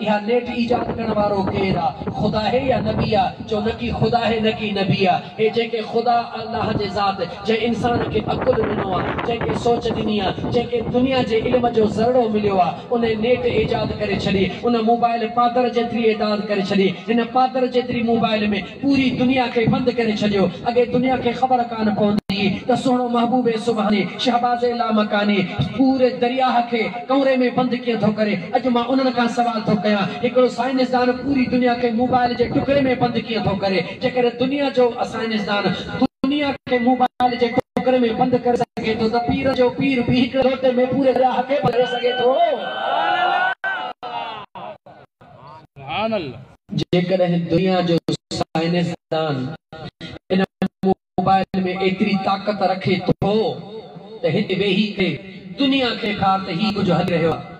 اها نيٽ ايجاد ڪرڻ وارو ڪير آ خدا هي يا نبي آ چئو نڪي خدا هي نڪي نبي آ هي جيڪي خدا الله جي ذات جنهن انسان کي عقل ڏنو آ جنهن کي سوچ ڏني آ جنهن کي دنيا جي علم جو ذرڙو مليو آ انهي نيٽ ايجاد ڪري ڇڏي ان موبائل پادر جيتري ايداد ڪري ڇڏي هن پادر جيتري موبائل ۾ پوري دنيا کي بند ڪري ڇڏيو اڳي دنيا کي خبر ڪانه پوندي هئي ته سهڻو محبوب سبحاني شهباز لامڪاني پوري درياهه کي ڪؤري ۾ بند ڪيئن ٿو ڪري اڄ مان انهن کان سوال ٿو ڪيان هڪڙو سائنسدان پوري دنيا کي موبائل جي ٽڪري ۾ بند ڪيئن ٿو ڪري جيڪڏهن دنيا جو سائنسدان دنيا کي موبائل جي ٽڪري ۾ بند ڪري سگهي ٿو ته پيرن جو پير به هڪڙي لوٽي ۾ پوري درياهه کي بند ڪري سگهي ٿو. جيڪڏهن دنيا جو سائنسدان ان موبائل ۾ ايتري طاقت رکي ٿو ته هتي ويهي ڪري دنيا کي ڏيکار ته هي ڪجهه هلي رهيو آهي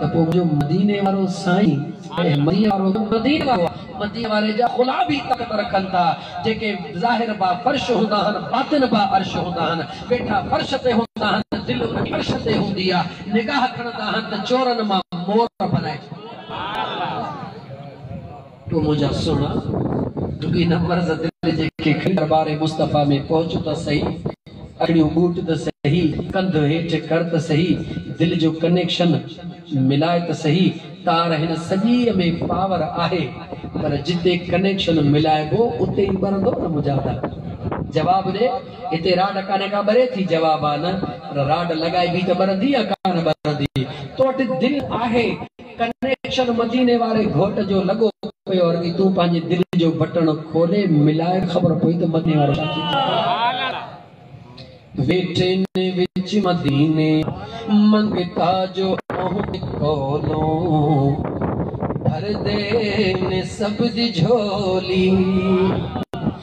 ته پوء منهنجو مديني وارو سائين ۽ مديني وارو گهر مديني وارو آهي. مديني واري جا خلا به طاقت رکن ٿا جيڪي ظاهر با فرش هوندا آهن باطن با عرش هوندا آهن. ويٺا فرش تي هوندا آهن دل انهي عرش تي هوندي آهي. نگاهه کڻندا آهن ته چورن مان مور بنائجي. تو منهنجا سهڻا ڊگهي نه پر زدل جي کي کڻي دربار مصطفيٰ ۾ پهچ ته سهي اکڙيون ٻوٽ ته سهي ڪنڌ هيٺ ڪر ته سهي دل جو ڪنيڪشن ملاء ته سهي تار هن سڄي ۾ پاور آهي پر جتي ڪنيڪشن ملائبو اتي ئي ٻرندو نه منهنجا دل جواب ڏي. هتي راڊ ڪانهي ڪا ٻري ٿي؟ جواب، آ نه پر راڊ لڳائبي ته ٻرندي يا ڪانه ٻرندي؟ تو وٽ دل آهي؟ ڪنيڪشن مديني واري گهوٽ جو لڳو پيو ارڳي تون پنهنجي دل جو بٽڻ کولي ملائي خبر پوي ته مديني وارو ڇا ٿي چوي. ويٺين وچ مديني منگتا جو اهو به ڪولون ڀر دين سڀ جي جهولي.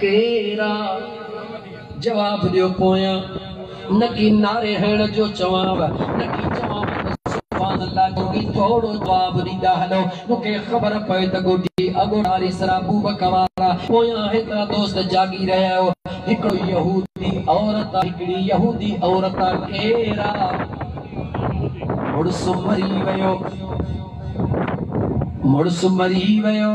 ڪيرا جواب ڏيو پويان نڪي نعري هڻ جو چوانو نڪي چوانو ته سبحان الله جوڳي ٿورو جواب ڏيندا هلو مونکي خبر پئي ته ڳوٺي اڳوڻاري سرابو بکوارا پويان هيترا دوست جاڳي رهيا آهيو هڪڙو يهودي عورت هڪڙي يهودي عورت ڪيرا مڙس مري ويو مڙس مري ويو.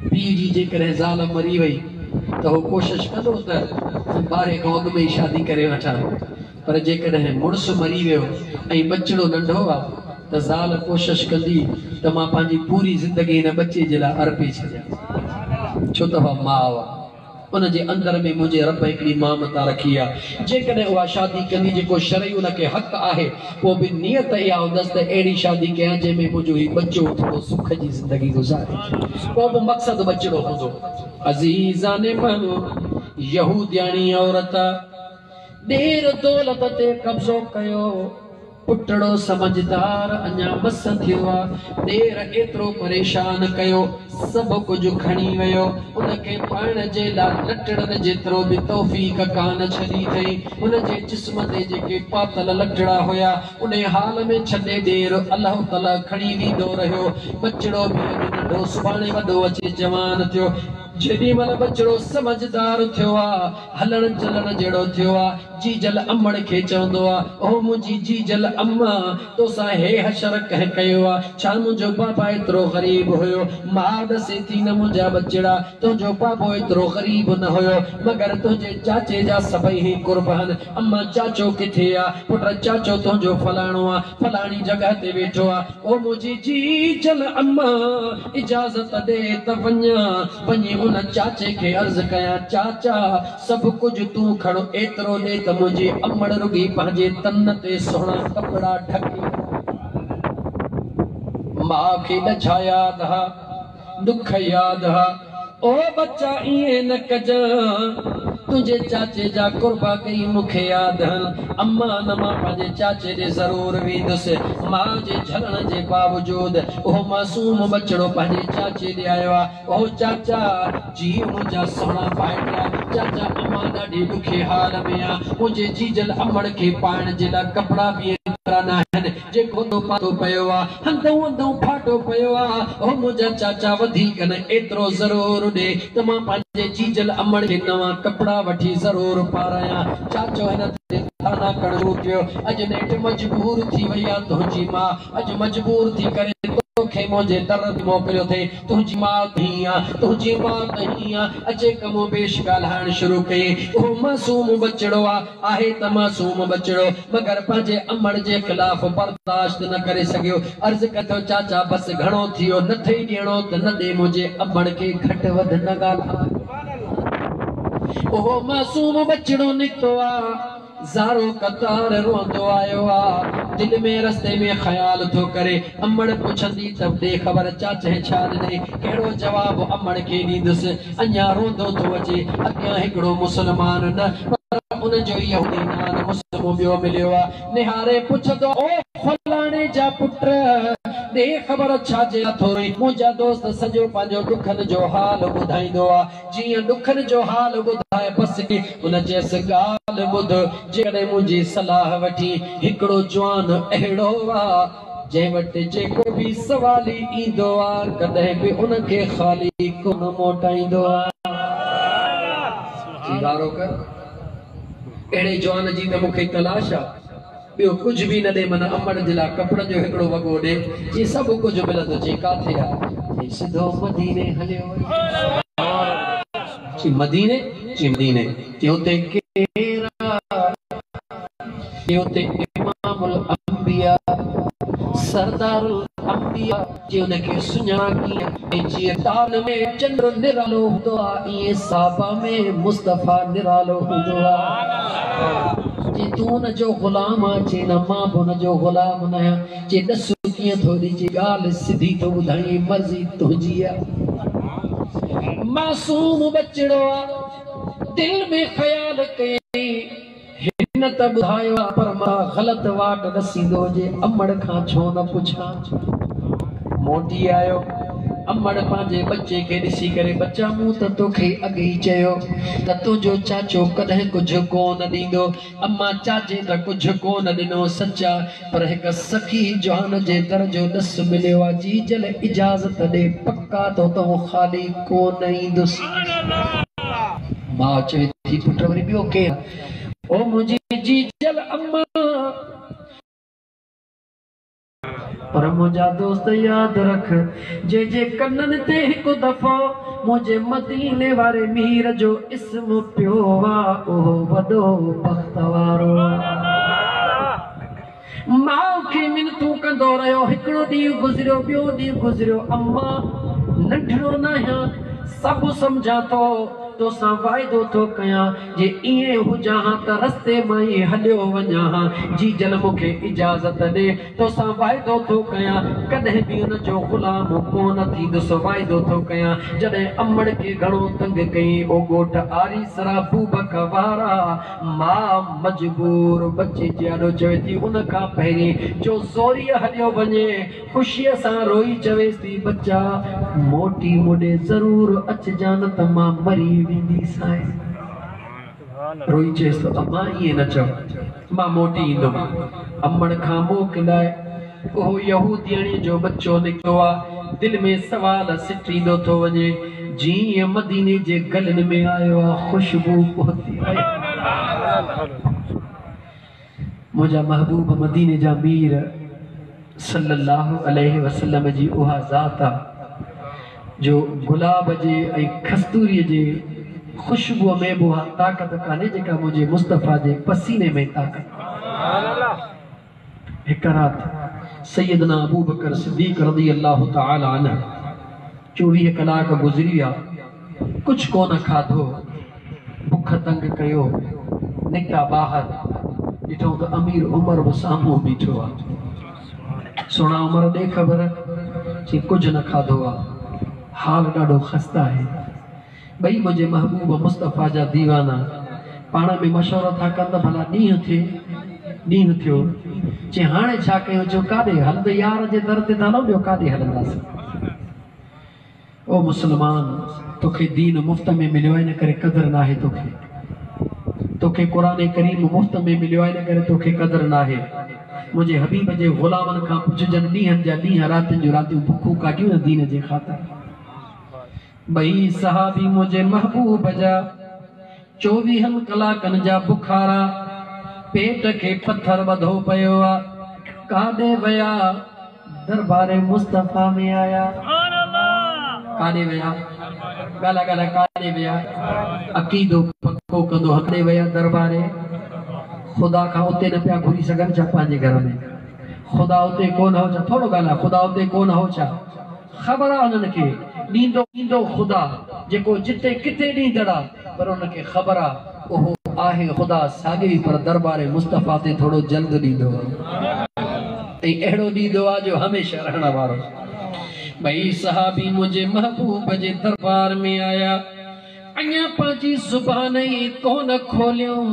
پيء جي جيڪڏهن زال مري وئي ته هو ڪوشش ڪندو ته آء ٻارهي کان اڳ ۾ ئي شادي ڪري وٺان پر جيڪڏهن مڙس مري ويو ۽ ٻچڙو ننڍو آ ته زال ڪوشش ڪندي ته مان پنهنجي پوري زندگي هن ٻچي جي لاء ارپي ڇڏيان ڇو ته اها ماء آ. ان جي اندر ۾ منهنجي رب هڪڙي مامتا رکي آ جيڪڏهن اها شادي ڪندي جيڪو شرعي ان کي حق آهي پوء به نيت اها هوندس ته اهڙي شادي ڪيان جنهن ۾ منهنجو هي ٻچو ٿورو سک جي زندگي گذاري پوء به مقصد ٻچڙو هوندو عزيزان مهل يهودياڻي عورت ڏير دولت تي قبضو ڪيو. پٽڙو سمجهدار اڃا مس ٿيو آ، ڏير ايترو پريشان ڪيو، سڀ ڪجهه کڻي ويو، ان کي پائڻ جي لاء لٽڙن جيترو به توفيق ڪانه ڇڏي ٿئي، هن جي جسم تي جيڪي پاتل لٽڙا هيا، انهي حال ۾ ڇڏي ڏير الهه تلهه کڻي ويندو رهيو، ٻچڙو به اڄ ننڍو سڀاڻي وڏو اچي جوان ٿيو، جيڏي مهل ٻچڙو سمجهدار ٿيو آ. هلڻ چلڻ جهڙو ٿيو آ. جيجل امڙ کي چوندو آ، او منهنجي جيجل اما! تو سان هي حشر ڪنهن ڪيو آ؟ ڇا منهنجو پاپا ايترو غريب هيو؟ ماء ڏسي ٿي نه منهنجا ٻچڙا، تنهنجو پاپو ايترو غريب نه هيو، مگر تنهنجي چاچي جا سڀئي هي قرب هن. اما، چاچو ڪٿي آ؟ پٽ، چاچو تنهنجو فلاڻو آ، فلاڻي جڳهه تي ويٺو آ. او منهنجي جيجل اما! اجازت ڏي ته وڃان، وڃي ان چاچي کي عرض ڪيان، چاچا! سڀ ڪجهه تون کڻ، ايترو ڏي ته منهنجي امڙ رڳي پنهنجي تن تي سهڻا ڪپڙا ڍڪي وڃي. ماء کي ڏڇا ياد ها، ڏک ياد ها. او ٻچا ائين نه ڪجان، تنهنجي چاچي جا قربا ڪيئي مون کي ياد هن. اما نه مان پنهنجي چاچي ڏي ضرور ويندس. ماء جي جهلڻ جي باوجود اهو معصوم ٻچڙو پنهنجي چاچي ڏي آيو آ. او چاچا! جيء منهنجا سهڻا ڀائٽيا، چاچا اما ڏاڍي ڏکي حال ۾ آ، منهنجي جيجل امڙ کي پائڻ جي لاء ڪپڙا به ايترا ناهن، جيڪو تو پاڏو پيو آ، هندئون هندئون ڦاٽو پيو آ، او منهنجا چاچا وڌيڪ نه ايترو ضرور ڏي ته مان پنهنجي جيجل امڙ کي نوان ڪپڙا وٺي ضرور پارايان. چاچو هن تي طعنا ڪرڻ شروع ڪيو، اڄ نيٺ مجبور ٿي وئي آ تنهنجي ماء، اڄ مجبور ٿي ڪري تو کي منهنجي در تي موڪليو ٿئي، تنهنجي ماء ته هينئن آ، تنهنجي ماء ته هينئن آ، اچي ڪمو بيش ڳالهائڻ شروع ڪيئي، اهو معصوم ٻچڙو آ، آهي ته معصوم ٻچڙو مگر پنهنجي امڙ جي خلاف برداشت نه ڪري سگهيو عرض ڪري ٿو چاچا بس گهڻو ٿيو نه ٿئي ڏيڻو ته نه ڏي منهنجي امڙ کي گهٽ وڌ نه ڳالهاء. اهو معصوم ٻچڙو نڪتو آ زارو قطار روئندو آيو آ دل ۾ رستي ۾ خيال ٿو ڪري امڙ پڇندي ته ڏي خبر چاچهه ڇا ڏنئي ڪهڙو جواب امڙ کي ڏيندس اڃا روندو ٿو اچي، اڳيان هڪڙو مسلمان نه پر ان جو يهودي نان مسلمو ٻيو مليو آ، نهاري پڇندو آ، او فلاڻي جا پٽ، ڏي خبر ڇاجي لاء ٿو روئين؟ منهنجا دوست سڄو پنهنجو ڏکن جو حال ٻڌائيندو آ، جيئن ڏکن جو حال ٻڌائي بس ڪي، ان چيس ڳالهه ٻڌ، جيڪڏهن منهنجي صلاح وٺين، هڪڙو جوان اهڙو آ، جنهن وٽ جيڪو به سوالي ايندو آ ڪڏهن به ان کي خالي ڪونه موٽائيندو آ. جي وارو ڪر اهڙي جوان جي ته مون کي تلاش آ ٻيو ڪجهه به نه ڏي من امڙ جي لاء ڪپڙن جو هڪڙو وڳو ڏي جي سڀ ڪجهه ملندو چي ڪاٿي آ چي سڌو مديني هليو وڃ چي مديني چي مديني چي اتي ڪير آ. جي اتي امام الانبياء سردار الانبياء جي ان کي سڃاڻا ڪيئن ۽ جيئن تال ۾ چنڊ نرالو هوندو آهي ايئن صحابه ۾ مصطفيٰ نرالو هوندو آهي جي تون ان جو غلام آهين چي نه مان به ان جو غلام ناهيان چي ڏس ڪيئن ٿو ڏي چي ڳالهه سڌي ٿو ٻڌائين مرضي تنهنجي آهي معصوم ٻچڙو آهي دل ۾ خيال ڪيئين هن ته ٻڌايو آ پر مان غلط واٽ ڏسيندو جي امڙ کان ڇو نه پڇان. موٽي آيو. امڙ پنهنجي ٻچي کي ڏسي ڪري ٻچا مون ته توکي اڳ ئي چيو ته تنهنجو چاچو ڪڏهن ڪجهه ڪو نه ڏيندو. امان چاچي ته ڪجهه ڪو نه ڏنو سچ آ. پر هڪ سخي جوان جي در جو ڏس مليو آ جي جل اجازت ڏي پڪا تو تون خالي ڪون ايندس. ماء چوي ٿي پٽ وري ٻيو ڪير آ او منهنجي جي جل امان. پر منهنجا دوست ياد رک جنهن جي ڪنن تي هڪ دفعو منهنجي مديني واري مير جو اسم پيو آ اهو وڏو بخت وارو آ. ماء کي منتون ڪندو رهيو. هڪڙو ڏينهن گذريو، ٻيو ڏينهن گذريو. اما! ننڍڙو ناهيان، سڀ سمجهان ٿو. توسان واعدو ٿو ڪيان، جي ائين هجان ها ته رستي مان ئي هليو وڃان ها. جيجل مون کي اجازت ڏي، توسان واعدو ٿو ڪيان، ڪڏهن به ان جو غلام ڪونه ٿيندس. واعدو ٿو ڪيان. جڏهن امڙ کي گهڻو تنگ ڪيئي، او ڳوٺ آريسرا بوبڪ وارا. ماء مجبور ٻچي جي آڏو چوي ٿي ان کان پهرين جو زوريء هڏيو وڃي، خوشيء سان روئي چويس ٿي، ٻچا! موٽي مون ڏي ضرور اچجان نه ته مان مري وينديسانء. روئي چيس ٿو، امان ائين نه چئو، مان موٽي ايندم. امڙ کان موڪلائي. اهو يهودياڻيء جو ٻچو نڪتو آ، دل ۾ سوال سٽيندو ٿو وڃي، جيئن ئي مديني جي گلن ۾ آيو آ، خوشبو پهتي آهي. منهنجا محبوب مديني جا مير صلّي اللّٰه عليه وسلّم جي اها ذات آ، جو گلاب جي ۽ کستوريء جي خوشبوء ۾ به اها طاقت ڪانهي، جيڪا منهنجي مصطفيٰ جي پسيني ۾ طاقت آ. هڪ رات سيدنا ابوبڪر صديق رضي الله تعالٰي عنه چوويهه ڪلاڪ گذري ويا ڪجهه ڪونه کاڌو بک تنگ ڪيو نڪتا ٻاهر ڏٺائون ته امير عمر به سامهون بيٺو آهي سهڻا عمر ڏي خبر چي ڪجهه نه کاڌو آهي حال ڏاڍو خسته آهي ٻئي منهنجي محبوب مصطفيٰ جا ديوانا پاڻ ۾ مشورو ٿا ڪن ته ڀلا ڏينهن ٿئي، ڏينهن ٿيو. چي هاڻي ڇا ڪيون؟ چيو ڪاڏي؟ هلندي يار جي در تي ٿا هلون، ٻيو ڪاڏي هلنداسين؟ او مسلمان! توکي دين مفت ۾ مليو آهي ان ڪري قدر ناهي توکي. توکي قرآن ڪريم مفت ۾ مليو آهي ان ڪري توکي قدر ناهي. منهنجي حبيب جي غلامن کان پڇ جن ڏينهن جا ڏينهن راتين جون راتيون بکون ڪاٽيون نه دين جي خاطر. ٻئي صحابي منهنجي محبوب جا چوويهن ڪلاڪن جا بخارا، پيٽ کي پٿر ٻڌو پيو آ، ڪاڏي ويا؟ دربار مصطفيٰ ۾ آيا. ڪاڏي ويا؟ ڳالهاء ڳالهاء ڪاڏي ويا؟ عقيدو پڪو ڪندو هان ڪاڏي ويا؟ دربار خدا کان اتي نه پيا گهري سگهن ڇا پنهنجي گهر ۾؟ خدا اتي ڪونه هو ڇا؟ ٿورو ڳالهاء خدا اتي ڪونه هو ڇا؟ خبر آ انهن کي ڏيندو خدا جيڪو جتي ڪٿي ڏيندڙ آ پر انهن کي خبر آ اهو آهي خدا ساڳئي پر دربار مصطفيٰ تي ٿورو جلد ڏيندو آ ۽ اهڙو ڏيندو آ جو هميشه رهڻ وارو آ ٻئي صحابي منهنجي محبوب جي دربار ۾ آيا اڃا پنهنجي زبان ئي ڪونه کوليون.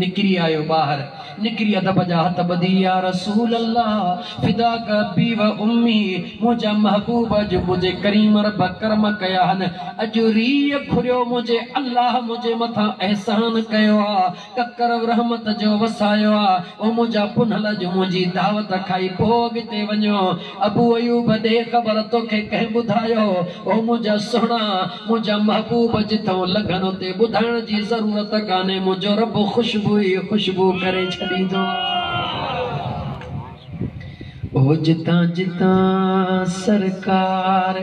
نڪري آيو ٻاهر، نڪري ادب جا هٿ ٻڌي يا رسول الله فداک ابي و امي منهنجا محبوب اڄ منهنجي ڪريم رب ڪرم ڪيا هن اڄ ريء کوريو منهنجي الله منهنجي مٿان احسان ڪيو آ ڪڪر رحمت جو وسايو آ او منهنجا پنهل اڄ منهنجي دعوت کائي پوء اڳتي وڃو ابو ايوب ادي خبر توکي ڪنهن ٻڌايو او منهنجا سهڻا منهنجا محبوب جتئون لنگهن اتي ٻڌائڻ جي ضرورت ڪانهي منهنجو رب خوشبو ئي خوشبو ڪري ڇڏيندو آهي او جتان جتان سرڪار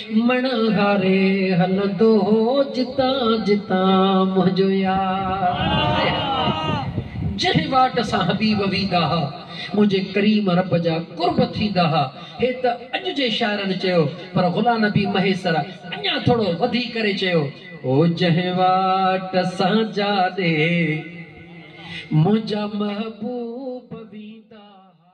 مڻهاري هلندو هو جتان جتان منهنجو يار جنهن واٽ سان حبيب ويندا ها منهنجي ڪريم رب جا قرب ٿيندا ها هي ته اڄ جي شاعرن چيو پر غلام نبي مهيسر اڃا ٿورو وڌي ڪري چيو هو جنهن واٽ سان جاڏي منهنجا محبوب ويندا ها.